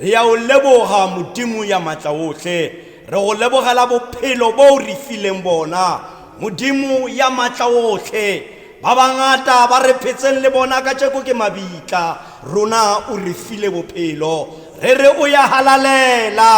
re ya o leboga modimo ya maatla otlhe re go lebogela bophelo bo o re fileng bona modimo ya maatla otlhe ba bangata ba re phetseng le bona ka tšeko ke mabitla rona o re file bophelo re re o ya halalela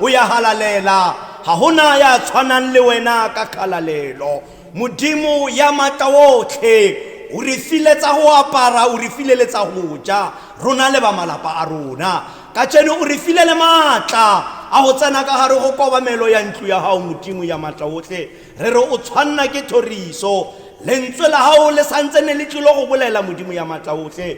o ya halalela ga gona ya tshwanang le wena ka kgalalelo modimo ya maatla otlhe o re file tsa go apara o re file le tsa go ja rona le ba malapa a rona ka tseno o re file le maatla a go tsena ka gare go kobamelo ya ntlo ya gago modimo ya maatla otlhe re re o tshwanna ke thoriso lentswe la gago le santse ne le tlilo go bolela modimo ya maatla otlhe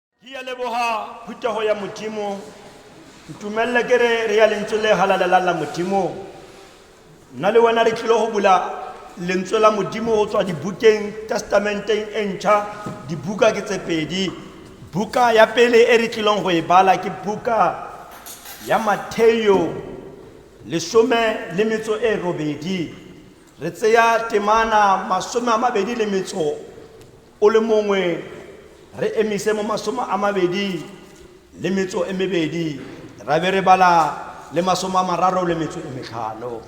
ke ya leboga phuthego ya modimo ntumelele ke re re ya lentswe le galalelang la modimo nna le wena re tlile go bula lentswe la modimo go tswa dibukeng testamenteng e ntšha dibuka ke tse pedi buka ya pele e re tlileng go e bala ke buka ya matheo lesome le metso e robedi re tseya temana masome a mabedi le metso o le mongwe re emise mo masome a mabedi le metso e mebedi ra be re bala le masome a mararo le metso e metlhano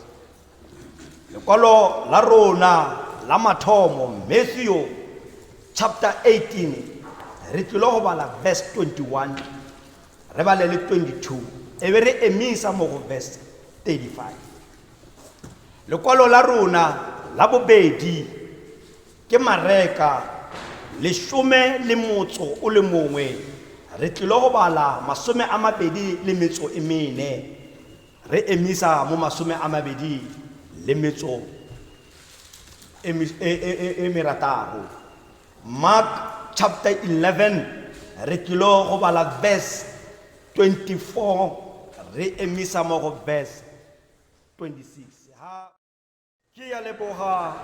lekwalo la rona la mathomo matthew chapter 18 re tlile go bala verse 21 re bale le 22 e be re emisa mo go verse 35 lekwalo la rona la bobedi Ke mareka lesome le motso o le mongwe, re tlile go bala masome a mabedi le metso e mene, re emisa mo masome a mabedi le metso e, e, e, e, e merataro. Mark chapter 11, re tlile go bala verse 24, re emisa mo go verse 26. Ke ya leboga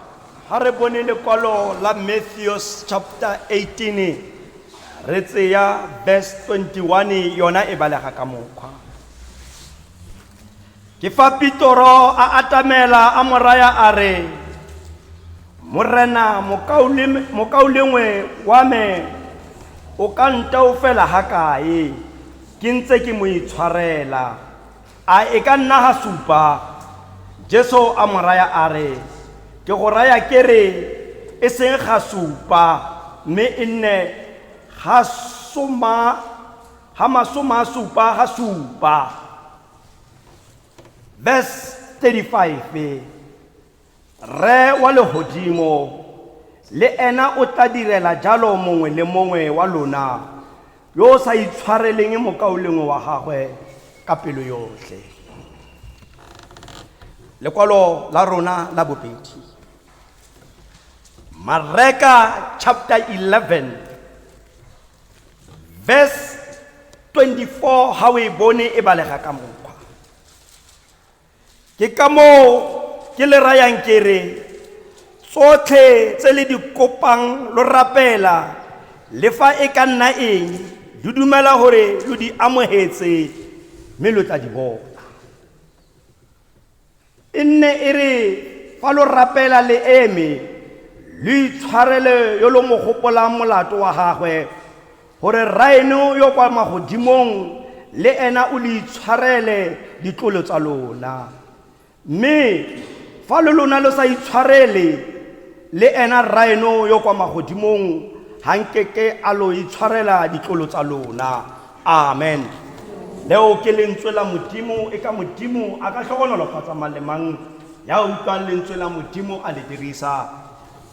ha re bone lekwalo la Matthews chapter 18 re tseya verse 21 yona e balega ka mokgwa ke fa pitoro a atamela a moraya a re morena mokaulengwe wa me o ka ntaofela ga kae ke ntse ke mo itshwarela A e ka nna ga supa? Jesu a mo raya a re, Ke go raya ke re, e seng ga supa, mme e nne ga soma, ga masoma a supa ga supa. Verse 35. Rre wa legodimo le ena o tla direla jalo mongwe le mongwe wa lona yo o sa itshwareleng mokaulengwe wa gagwe ka pelo yotlhe. Lekwalo la rona la bobedi. Mareka chapter 11 verse 24 ha o e bone e balega ka mo. ke ka moo ke le rayang ke re tsotlhe tse le di kopang lo rapela le fa e ka nna eng lo dumela gore lo di amogetse mme lo tla di bona e nne e re fa lo rapela le eme lo itshwarele yo lo mo gopolang molato wa gagwe Gore Rraeno yo o kwa magodimong le ena o le itshwarele ditlolo tsa lona. Mme fa lo lona lo sa itshwarele, le ena Rraeno yo o kwa magodimong ga nkeke a lo itshwarela ditlolo tsa lona. Amen. Leo ke lentswe la Modimo, e ka Modimo a ka tlhogonolofatsa mang le mang ya utlwang lentswe la Modimo a le dirisa.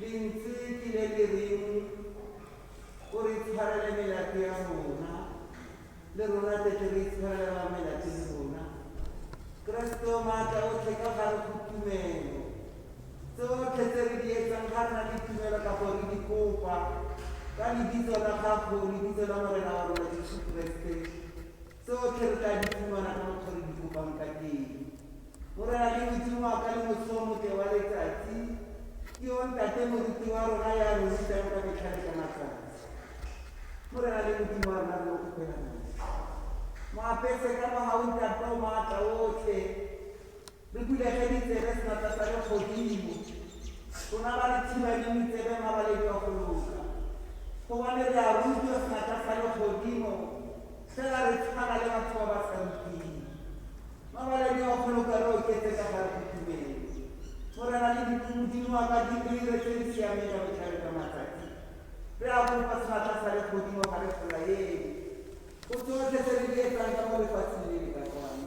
Lentsi ke le le reng, O re tshwarele melato ya rona, le rona tle tle re itshwarele ba melato le rona. Keresete o maatla otlhe ka gare go tumelo. Tsotlhe tse re di etsang ga rena le tumelo kapo re di kopa ka lebitso la gago, lebitso la Morena wa rona Jesu Keresete. Tsotlhe re tla di fumana ka mokgwa re di kopang ka teng. Morena ke Modimo wa ka le mosomotle wa letsatsi, ke yo ntate moruti wa rona ya re rutang ka metlha le ka matsatsi. Morena le Modimo wa rona re mo kopela motho. Mo apese ka mahautata o maatla otlhe, Re bulege ditsebe senatla sa legodimo, rona ba re thibang ditsebe mabaledi wa go loka, gobane re a rutwa senatla sa legodimo, fela re tshwana le batho ba ba sa ruting. Mabaledi wa go loka re oketse ka ga re itumele. Morena le Modimo wa ka di re dire tse di siameng ka botlhale jwa matsatsi. Re a kopa senatla sa legodimo ga re folaele go tsotlhe tse re di etsang ka mo lefatsheng le le ka kwano.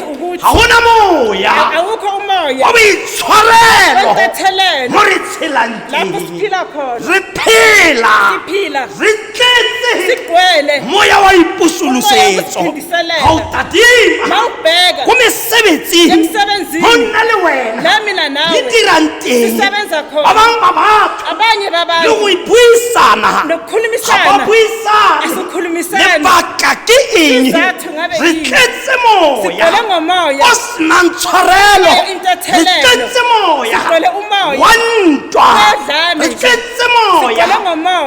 ga gona moya wa boitshwarelo mo re tshelang teng re phela re tletse moya wa ipusolosetso ga o tadima go mesebetsi go nna le wena di dirang teng ba bangwe ba batho le go ipuisana ga ba buisane lebaka ke eng re tletse moya o senang tshwarelo re tletse moya wa ntwa re tletse moya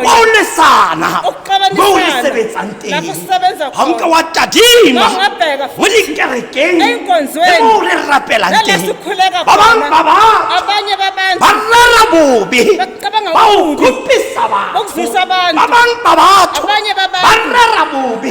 wa o lesana mo o le sebetsang teng ga nka wa tadima mo dikerekeng le mo o re rapelang teng ba bang ba ba ba rara bobe ba o kopisa batho ba bang ba batho ba rara bobe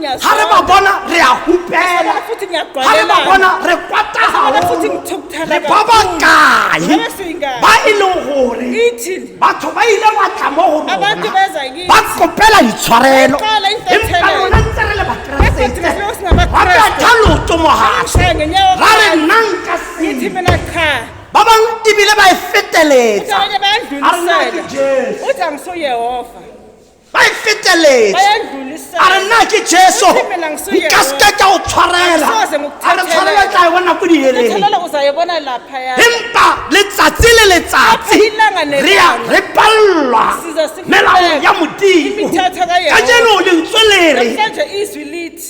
ga re ba bona re a hupela ga re ba bona re kwata gagolo re ba ba kae ba e leng gore batho ba ile ba tla mo go rona ba kopela ditshwarelo empa rona ntse re le bakeresete ba betha loto mogatlhe ra re nna nka sele ba bangwe ebile ba e feteletsa a rena ke jesu ba e feteletse a re nna ke jesu nka seke ka o tshwarela a re tshwarela tla e bona ko diheleng empa letsatsi le letsatsi re ya re palelwa melao ya modimo ka jeno lentswe lere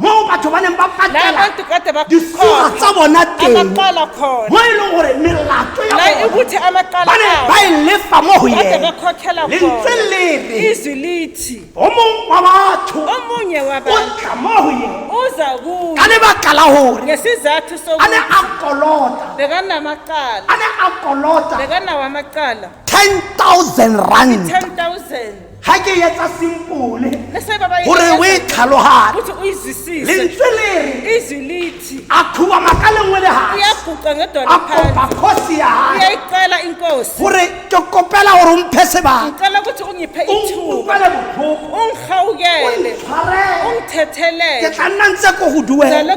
moo batho ba neng ba patela disuwa tsa bona teng mo e leng gore melato ya bona ba ne ba e lefa mo go yene lentswe le re o mongwe wa batho o tla mo go yene ka lebaka la gore a ne a kolota a ne a kolota 10000 rand ga ke etsa simpole gore o e tlhalogane lentswe lere a khuba maka lengwe le gaa kopa kgosi ya gae gore ke kopela gore o mphe sebaka utlwele botlhoko ke tla nna ntse ko go duela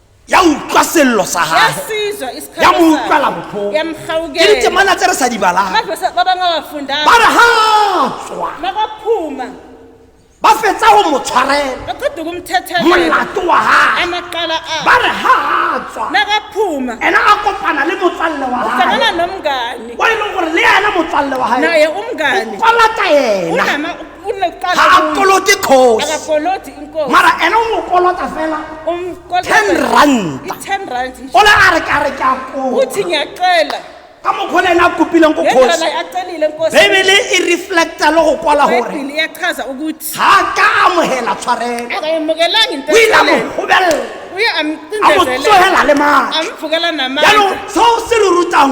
ya utlwa sello sa gage ya mo utlwala botlhoko ke ditemana tse re sa di balang ba re ga tswa ba fetsa go mo tshwarela molato wa gage ba re ga tswa ena a kopana le motswalle wa gage o e leng gore le ena motswalle wa gage o palata ena ga a kolote kgosi mara ene o mo kolota fela ten ranta ole a re ka re ke a koa ka mokgwa le ene a kopileng ko kgosi bebele e reflecta le go kwala gore ga a ka amogela tshwarelo o ile a mo gobelela a mo tsogela le maatla jaanong seo se lo rutang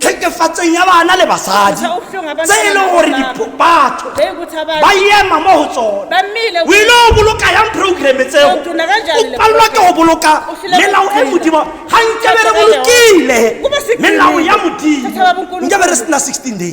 tlhekefatseng ya bana le basadi tse e leng gore batho ba ema mo go tsone o ile o boloka yang programme tseo o palelwa ke go boloka melao e modimo ga nke bere bolokile melao ya modimo nke bere sena 16 days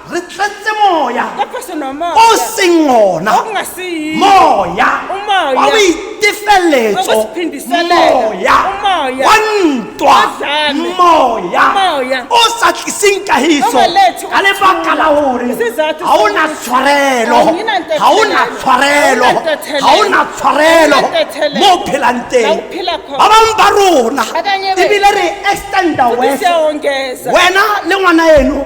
re tletse moya o seng ona moya wa boitefeletso moya wa ntwa moya o sa tliseng kahiso ka lebaka la gore ga o na tshwarelo ga o na tshwarelo ga o na tshwarelo mo o phelang teng ba bangwe ba rona ebile re extenda wena le ngwana eno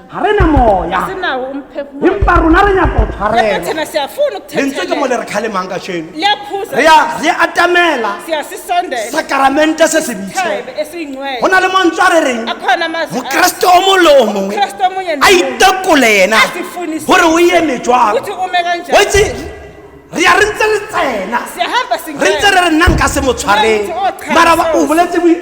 ga re na moya sinawo umphefumulo empa rona re nyaka go tshwarelwa lefathena siyafuna lentswe ke mo le ukuthethelela re kgalemang ka sheno re liyaphuza ya re atamela siyasisondela sakaramente se se bitse isithebe go esiyingcwele na le mantswe a re reng akhona amazwi mokeresete o mongwe le o mongwe Mokeresete o mongwe le a o mongwe. itekole ena Azifunisise. gore o eme jwang ukuthi ume kanjani wetse re ya re ntse re tsena siyahamba re ntse re re nna nka se mo tshwareng Nna motho o thabisang. mara ba- o boletse bo-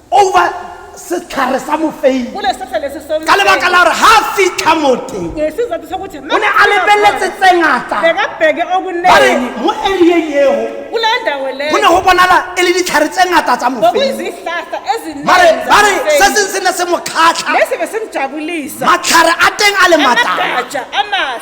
over setlhare sa mofeini ka lebaka la gore ga a fitlha moteng o ne a lebeletse tse ngata are mo arieng eo go ne go bonala e le ditlhare tse ngata tsa mofeini bare se seng se ne se mo kgatlha matlhare a teng a le matala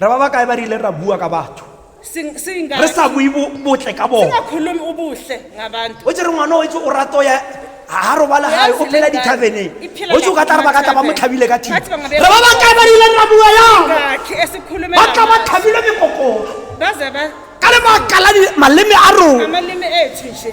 re ba ba kae ba rile ra bua ka batho Sing- singa- re sa bue bo- botle ka bona singakhulumi ubuhle ngabantu o tsere ngwana o itse o rato ya ga robala gae o phela dithabeneng o tse o ka tla re ba ka tla ba mo tlhabile ka thiba re ba ba kae ba rile ra bua yang ngakhe esikhulume ba tla ba ngabantu. tlhabile mekokolo baze ba ka lebaka la di- maleme a rona amalimi ethu nje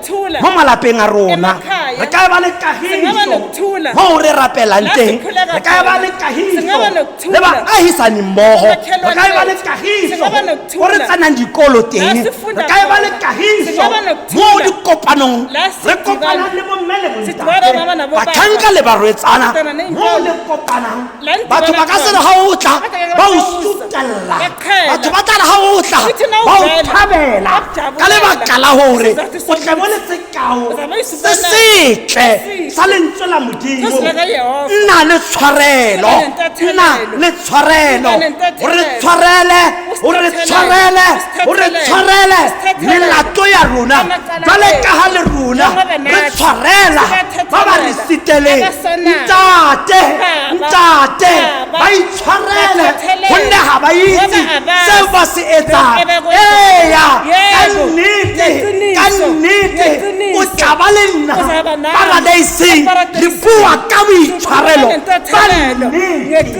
mo malapeng a rona re ka ba le kagiso mo re rapelang teng re ka ba le kagiso le baagisani mmogo re ka ba le kagiso go re tsanang dikolo teng re ka ba le kagiso mo dikopanong re kopanang le bomme le bontate batlhanka le barwetsana mo le kopanang batho ba ka sena ga o tla ba o sutelela batho ba tlare ga o tla ba o thabela ka lebaka la gore o tle mo le sekao se setle sa lentswe la modimo nna le tshwarelo nna le tshwarelo gore tshwarele o re tshwarele o re tshwarele melato ya rona jale ka ga le rona re tshwarela ba ba re seteleng ntate ntate ba itshwarele gonne ga ba itse seo ba se etsang eya ka nnete ka nnete o tla ba le nna paradaiseng re bua ka boitshwarelo ba nnete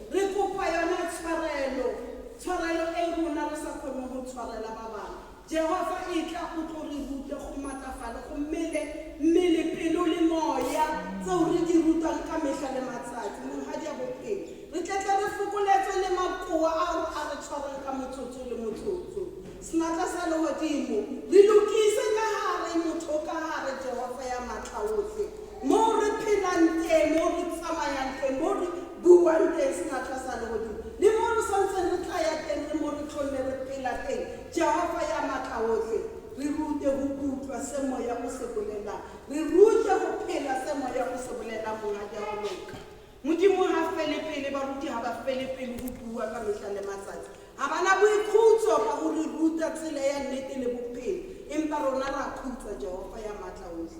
Re kopa yona tshwarelo, tshwarelo e rona re sa kgoneng go tshwarela ba bangwe. Jehofa, etla o tlo re rute go matlafale, go mmele, mmele, pelo le moya, tseo re di rutwang ka mehla le matsatsi. Monghadi ya Bophelo, re tle tle re fokoletswe le makoa ao a re tshwarang ka motsotso le motsotso. Senatla sa Lehodimo, re lokise ka hare, motho ka hare, Jehofa ya Matla ohle, moo re phelang teng, moo re tsamayang teng, moo re Buang teng sefatlha sa legodimo, le mo re sa ntseng re tla ya teng le mo re tlholle re phela teng, Jehofa ya Matlaohle, re rute go utlwa se Moya o se bolelang. Re rute go phela se Moya o se bolelang, Monghadi, a go loka. Modimo ga fele pele, baruti ga ba fele pelo go bua ka mehla le matsatsi. Ga ba na boikhutso ka go re ruta tsela ya nnete le bophelo, empa rona ra khutswa, Jehofa ya Matlaohle.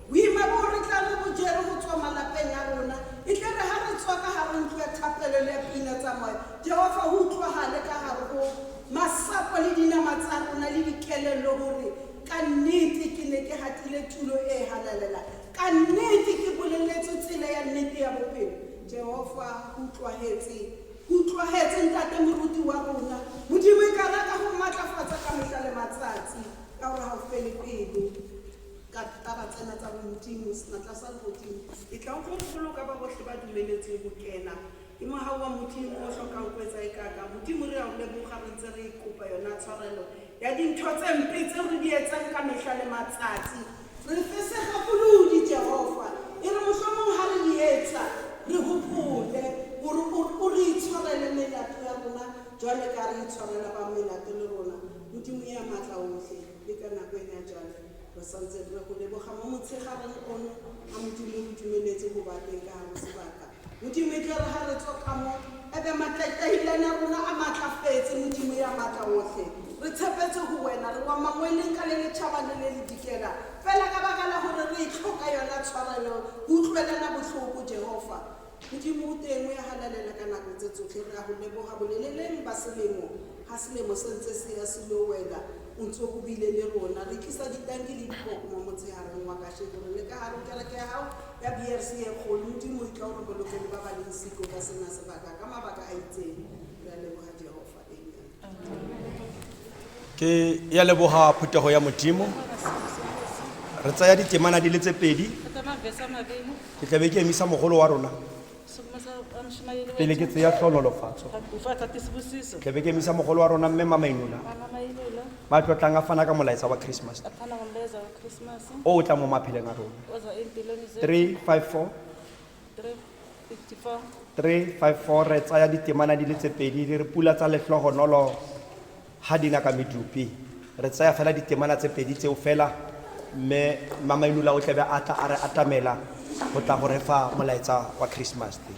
Boima boo re tla re bo jere go tswa malapeng a rona, e tle re ha re tswa ka gare ntlo ya thapelo le ya pina tsa moya, Jehofa, go utlwagale ka gare go masapo le dinama tsa rona le dikelello gore ka nnete ke ne ke gatile tulo e e halalelang. Ka nnete ke boleletswe tsela ya nnete ya bophelo. Jehofa, go utlwagetse. Go utlwagetse, Ntate Moruti wa rona. Modimo, e ka re a ka go matlafatsa ka mehla le matsatsi, ka gore ga o fele pelo. ka taba tsena tsa bontimo senatla sa legodimo e tla go boloka ba botlhe ba dumeletseng go kena ke mogau wa modimo o tlhokang go etsa e kaka modimo re a o leboga re ntse re kopa yona tshwarelo ya dintho tse mpe tse re di etsang ka mehla le matsatsi re fesega kolodi jehova e re mohlomong ga re di etsa re gopole gore o re itshwarele melato ya rona jwale ka re itshwarela ba melato le rona modimo ya maatla otlhe Le ka nako ena jale, re sa ntse re re go leboga mo motshegareng ono, a Modimo re dumeletse go ba teng ka gare go sebaka. Modimo, e tlere ga re tswa ka mo, ebe matlaitlailane a rona a maatlafetse, Modimo ya Maatla Otlhe. Re tshepetse go Wena, re wa mangweleng ka le letšhaba le le le dikela, fela ka baka la gore re e tlhoka yona tshwarelo, go utlwelana botlhoko, Jehofa. Modimo o teng, o ya galalela ka nako tse tsotlhe. Re a go leboga boleleleng ba selemo ga selemo se ntse se ya se lo wela, o ntse o bile le rona. Re tlisa ditanki le dipoko mo motshegareng wa kasheko, re le ka gare go kereke ya gago ya BRC e kgolo. Modimo, o tla o re bolokele ba ba leng siko ka sena sebaka ka mabaka a itseng. Re a leboga, Jehofa. ke ya leboga phuthego ya modimo re tsaya ditemana di le tse pedi ke tlabe ke emisa mogolo wa rona pele ke tseya tlhonolofatso tlabe ke emisa mogolo wa rona mme mamainola ba tlotlang a fana ka molaetsa wa christmas o o tla mo mapheleng a rona 354 354 re tsaya ditemana di le tse pedi di re pula tsa letlhogonolo ga di na ka medupi re tsaya fela ditemana tse pedi tseo fela mme mamainula o tlabe a tla a re atamela go tla go re fa molaetsa wa christmas day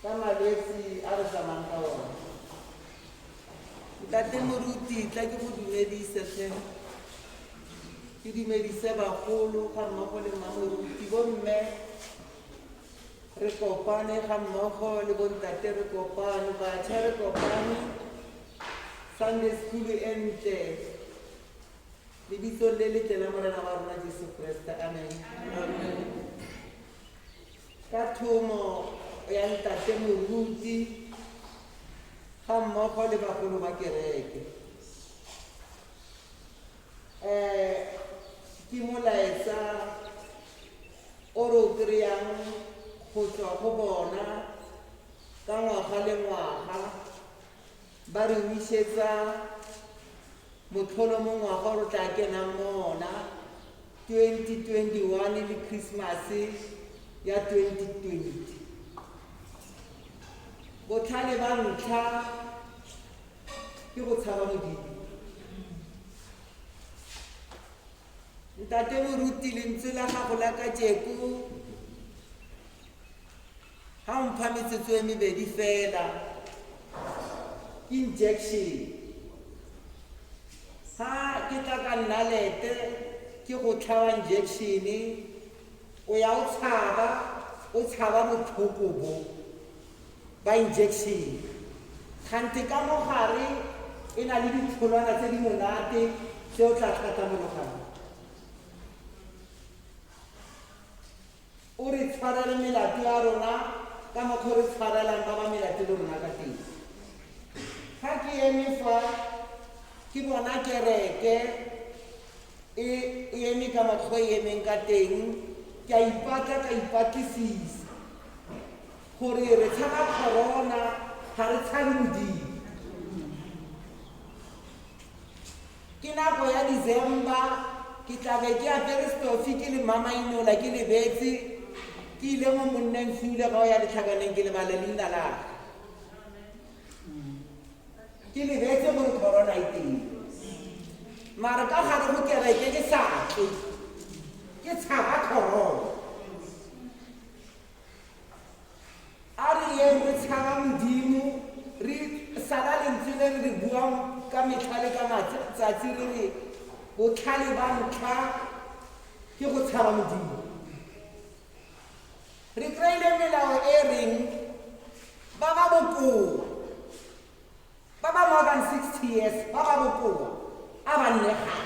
Ka malwetsi a re tsamayang ka one. Ntate Moruti, tla ke go dumedise tlhe. Ke dumedise bagolo ga mmogo le mma Moruti, bo mme re kopane ga mmogo le bo ntate re kopane, batjha re kopane. Sunday school e ntle. Lebitsong le letle la Morena wa rona Jesu Kreste. Amen. Amen. ka thomo ya ntate moruti ga mmogo le bagolo ba kereke um ke molaetsa o re o kry-ang go tswa go bona ka ngwaga le ngwaga Ba re wisetsa motlholo mo ngwaga o re tla kenang mo ona 2021 le Christmas ya 2020. Botlhale ba ntlha ke go tshaba Modimo. Ntate Moruti lentswe la gago la kajeko Ha o mpha metsotso e mebedi fela ke injection. Ha ke tla ka nnalete ke go tlhaba injection o ya o tshaba o tshaba botlhoko bo ba injection. Kgante ka mo gare e na le ditholwana tse di monate tse o tla tlhatlhamologana. O re tshwarele melato ya rona ka mokgwa o re tshwarelang ba ba melato le rona ka teng. Fa ke eme fa, ke bona kereke e e eme ka mokgwa e emeng ka teng, ke a ipatla ka ipatlisisa gore re tshaba corona ga re tshabe modimo Ke nako ya December, ke tla be ke apere stofi ke le mamainola ke lebetse ke ile mo monneng sule ga o ya letlhakaneng ke lebala leina la ke lebetse gore corona e teng mare ka gare mo kereke ke sa tle ke tshaba corona a re yeng re tshaba modimo re sala lentswe le re re buang ka metlha le ka matsatsi re re botlhale ba ntlha ke go tshaba modimo re kry-ile melao e reng ba ba bokoa ba ba more than sixty years ba ba bokoa a ba nne gae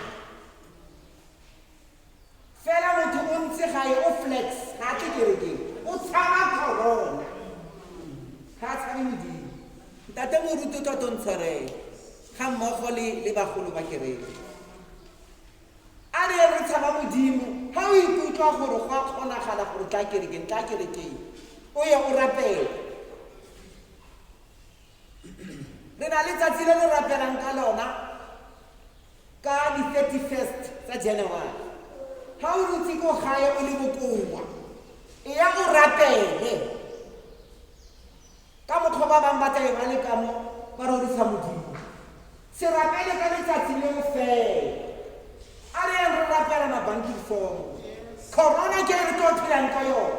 fela motho o ntse gae o flex ga a tle kerekeng o tshaba corona ga a tshabe modimo ntate moruti o tlotlo ntshwarele ga mmogo le le bagolo ba kereke a re re tshaba modimo ga o ikutlwa gore go a kgonagala gore tla kerekeng tla kerekeng o ye o rapele re na le tsatsi le le rapelang ka lona ka di-thirty first tsa january ga o rutse ko gae o le bokoa e ya o rapele ka mokgwa ba bangwe ba tla e ba le kamo ba rorisa modimo se rapele ka letsatsi leo fela a re yang re rapela mabanking form corona ke re tlo phelang ka yone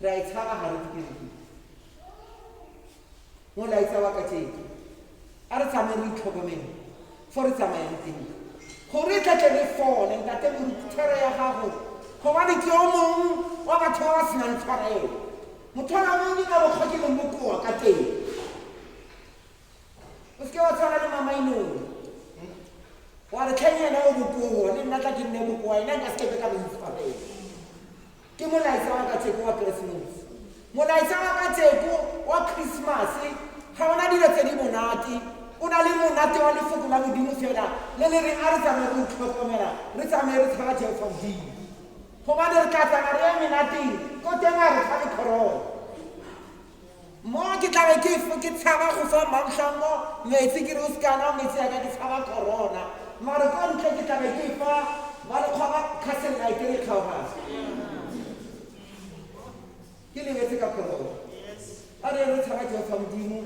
re a e tshaba ga re dikereke molaetsa wa ka teng a re tsamaye re itlhokomele fo re tsamaye le teng gore e tlatle re fole ntate morutshwara ya gago gobane ke o mongwe wa batho ba ba senang tshwarelo motho ona mong ke ka mokgwa ke leng bokoa ka teng o seke wa tshwana le mamainong wa re tlheng ena o bokoa le nna tla ke nne bokoa ena nka sekebe ka boitshwarelo Ke molaetsa wa kacheko wa Keresemose. Molaetsa wa kacheko wa Christmas-e ga ona dilo tse di monate. O na le monate wa lefoko la Modimo fela le le reng a re tsamaye re itlhokomela, re tsamaye re tshaba Jehofa Modimo. Gobane re tla tsamaya re ya menateng ko teng a re fa le corona. mo ke tlabe ke ke tshaba go fa mamtlhango metsi ke re o sekana metsi ya ka ke tshaba corona mare ko ntle ke tlabe ke fa ba le kgwa ba castle night e re tlhaogase ke lebetse ka corona a re re tshaba jehofa modimo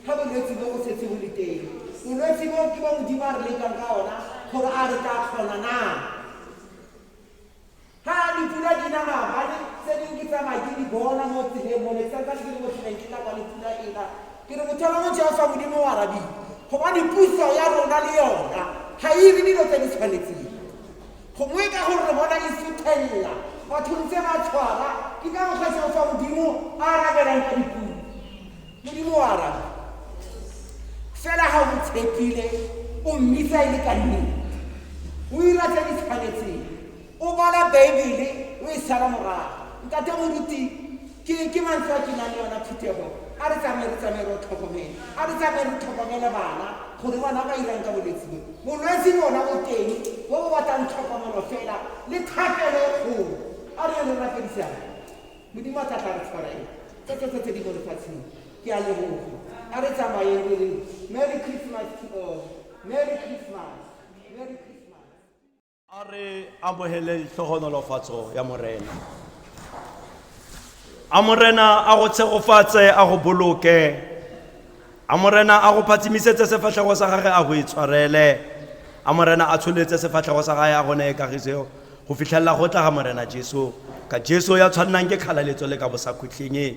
ga bolwetse bo go setse bo le teng bolwetse bo ke bo modimo a re lekang ka ona gore a re tla kgona na Ga dipula di na maabane, tse dingwe ke tsamaya ke di bona mo tseleng mo le santsane ke le mo tseleng ke tla kwa le pula e na. Ke re motheo wa motho ya o sa Modimo o arabile, gobane puso ya rona le yona ga e ire dilo tse di tshwanetseng. Gongwe ka gore re bona e suthelela, batho ntse ba tshwara, ke ka mokgwa Jehofa Modimo a arabelang ka dipula. Modimo o arabe, fela ga o mo tshepile, o mmisa e le ka nnete, o ira tse di tshwanetseng, O bala Baebele o e sala morago. Ntate Moruti, ke, ke mantswe a ke nang le ona phuthego. A re tsamaye re tsamaye re tlhokomele. A re tsamaye re tlhokomele bana, gore ngwana ba irang ka bolwetse bo. Bolwetse bona bo teng, bo bo batlang tlhokomelo fela, le thapelo e kgolo. A re yeng re rapedisane. Modimo a tla tla re tshwarela. Tsotlhe tse tse di mo lefatsheng. Ke a leboga. A re tsamayeng re re, Merry Christmas to all. Merry Christmas. Merry Christmas. a re amogeleng tlhogonolofatso ya morena a morena a go tshegofatse a go boloke a morena a go phatsimisetse sefatlhego sa gage a go e tshwarele a morena a tsholetse sefatlhego sa gage a go neye kagiso go fitlhelela go tla ga morena jesu ka jesu ya tshwannang ke kgalaletso le ka bosakhutlheng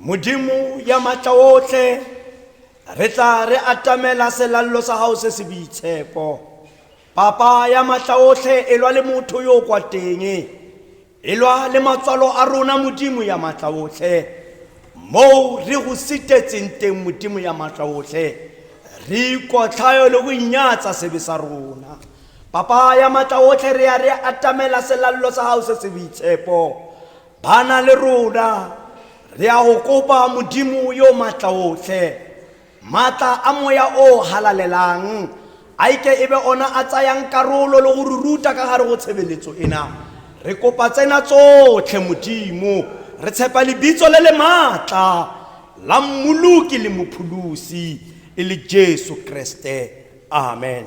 Modimo ya matla otlhe re tla re atamela selallo sa gago se se boitshepo papa ya matla otlhe e lwa le motho yo o kwa teng e lwa le matswalo a rona modimo ya matla otlhe moo re go sitetseng teng modimo ya matla otlhe re ikotlhayo le go inyatsa sebe sa rona papa ya matla otlhe re ya re atamela selallo sa gago se se boitshepo bana le rona re a go kopa modimo yo maatla otlhe maatla a moya o halalelang a ike e be ona a tsayang karolo le go re ruta ka gare go tshebeletso ena re kopa tsena tsotlhe modimo re tshepa lebitso le le maatla la mmoloki le mopholosi e le jesu kreste amen